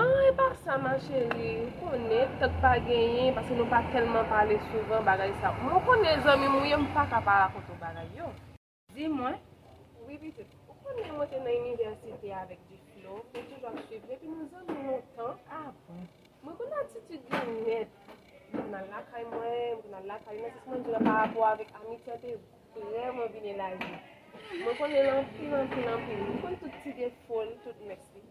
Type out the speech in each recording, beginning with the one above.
Ahh epa sa ma chérie ou konnen tank pa genyen paske nou pa tèlman pale souvan bagay sa mwen ou konnen zanmim ou ye m paka pa rakonte w bagay yo. Di mwen. Wi pitit. Ou konnen mwen te nan inivèsite avèk Duflo, mwen toujou ap swiv li epi nou zanmi lontan. Ah bon. Mwen konn atitid li nèt. Li konn al lakay mwen, mwen konn al lakay li nan sans mwen di w la pa rapò avèk amitye an te vrèman vin elaji. Mwen konnen l anpil anpil anpil. Mwen konn tout ti defo l, tout mès li.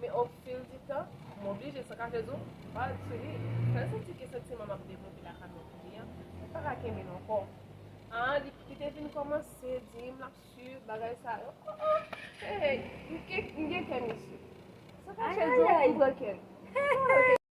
Men o fil di tan, m oblije san kache di w, bal t sou li. San l santi ke santiman m ap devlope lakay mwen pou li an, li pa ka kenbe l ankò. Aa, li te vin kòmanse di m l ap swiv m, bagay sa yo. Aa, ee, m gen kè misye. San kache di w, m pran kè l.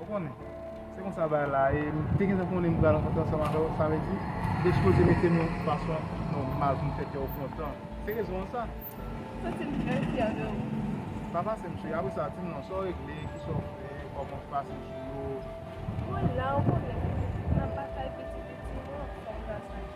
Ou konnen, se konsa bagay la ye, m te gentan konnen m pral rankontre ansanm avè w, sa vle di, m te sipoze mete m yon fason nòmal pou m fè kè w kontan. Se rezon an sa. M santi m trè fyè de ou. Pa pase m cheri, apre sa, di m non, sa w regle, ki sa w fè, kòman w pase jou yo. Mwen la, ou konnen, n ap batay piti piti, mwen anfòm gras a Dye.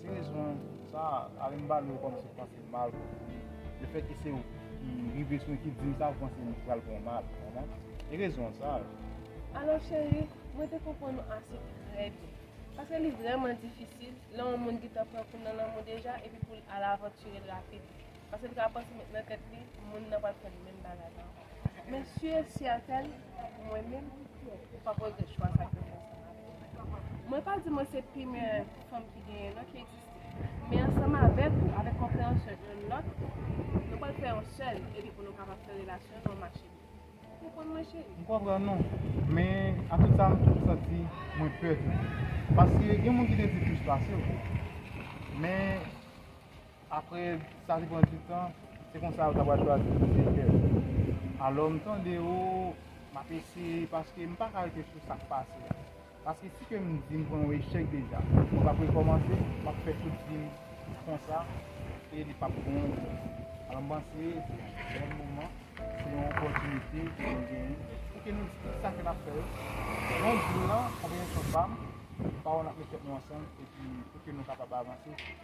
Ti rezon sa a, ale m bale w kòm si w panse m mal pou li. Lefèt ke se w ki rive sou ekip di m sa, ou panse m pral bon mal, ou konprann? E rezon sa yo. Alò cheri, mwen te konprann ou ase trè byen. Paske li vrèman difisil, lè yon moun gentan pran kou nan lanmou deja epi pou l al avanture l rapid. Paske l ka panse nan tèt li, moun nan pral fè l menm bagay la ankò. Mesye Seattle mwen menm ki fè ou pa poze chwa sa ke fè sa avèm mwen pa di mwen se pi meyè fanm ki genyen non ki egziste men ansanm avèk ou avèk konpreyansyon youn lòt nou pral fè yon sèl epi pou nou kapab fè relasyon nou mache byen ou konprann mwen cheri? M konprann ou men a tout sa m toujou santi mwen pè tou paske gen moun ki te di plis pase w men. Apre sa te pran du tan, se konsa yo ta pral chwazi plizyè kè. Alò m tande yo, m ap eseye paske m pa ka rete sou sa k pase a. Paske si ke m di m pran yon echèk deja, mwen p ap rekòmanse, m ap fè tout vi m konsa e li p ap bon pou mwen. Alò m panse se yon bèl moman, se yon opòtinite ke nou genyen pou ke nou di tout sa ke n ap fè yo, non dil lan, konpreyansyon pa m, pawòl n ap met tèt nou ansanm epi pou ke nou kapab avanse.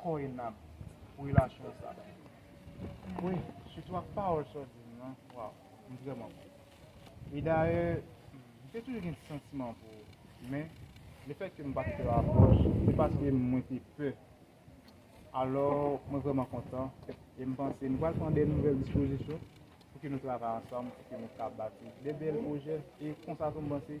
Koy nan relasyon sa wi sitou ak pawòl sa w di m lan waw m vrèman kontan e dayè m te toujou gen ti santiman pou ou men lefètke m pa t fè w apwòch se paske mwen te pè alò mwen vrèman kontan e m panse nou pral pran de nouvèl dispozisyon pou ke nou travay ansanm pou ke nou ka bati de bèl pwojè e konsa tou m panse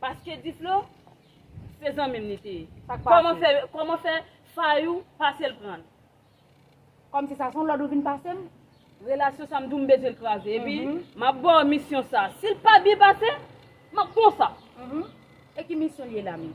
Paske diflo se zanmim li te ye. Sak pase. Koman fe koman fe fayou pasel pranl. Kom si sa son lod ou vin pasem. Relasyon sa mdou mbezwenl kraze epi map baw misyon sa sil pa byen pase map konsa. Uhmm e ki misyon li ye la menm.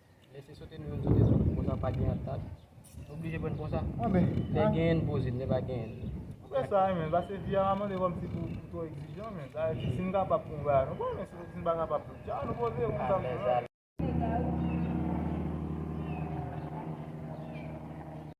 Lese sote nou menm sote sou konsa pa gen antant. Nou oblije pran konsa. Lè gen n poze, lè pa gen n. Ou fè sa men, pase vi a pa mande kòm si pou twò egzijan men. Sa vle di si n kapab pou n bay a nou bay men si n pa kapab tou tcha nou poze yo konsa m di.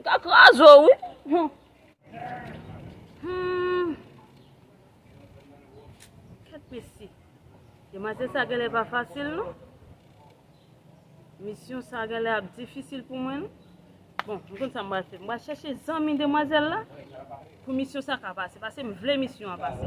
Mka kraze w wi. Hum. Hum. Ket mesi. Demwazel sa genle pa fasil non. Misyon sa genle ap difisil pou mwen non. Bon, m konn sa m pral fè. M pral chèche zanmi demwazel la pou misyon sa ka pase. Pase m vle misyon an pase.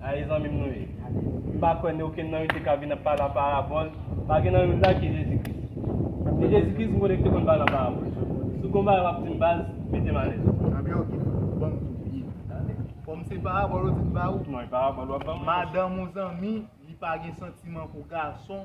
Ayi zanmim nou ye. M pa kwè ni okenn nan yo te ka vin ap pale an parabòl, pa gen nan yo la ki Jezi Kris. Se Jezi Kris m konnen ki te konn pale an parabòl. Si w gon bagay w ap di m baz, mete m alèz. Anmyè ok, ban m tou byen tande. Kòm se parabòl ou di m ba ou. Non e parabòl w ap ban m. Madanm ou zanmi li pa gen santiman pou gason.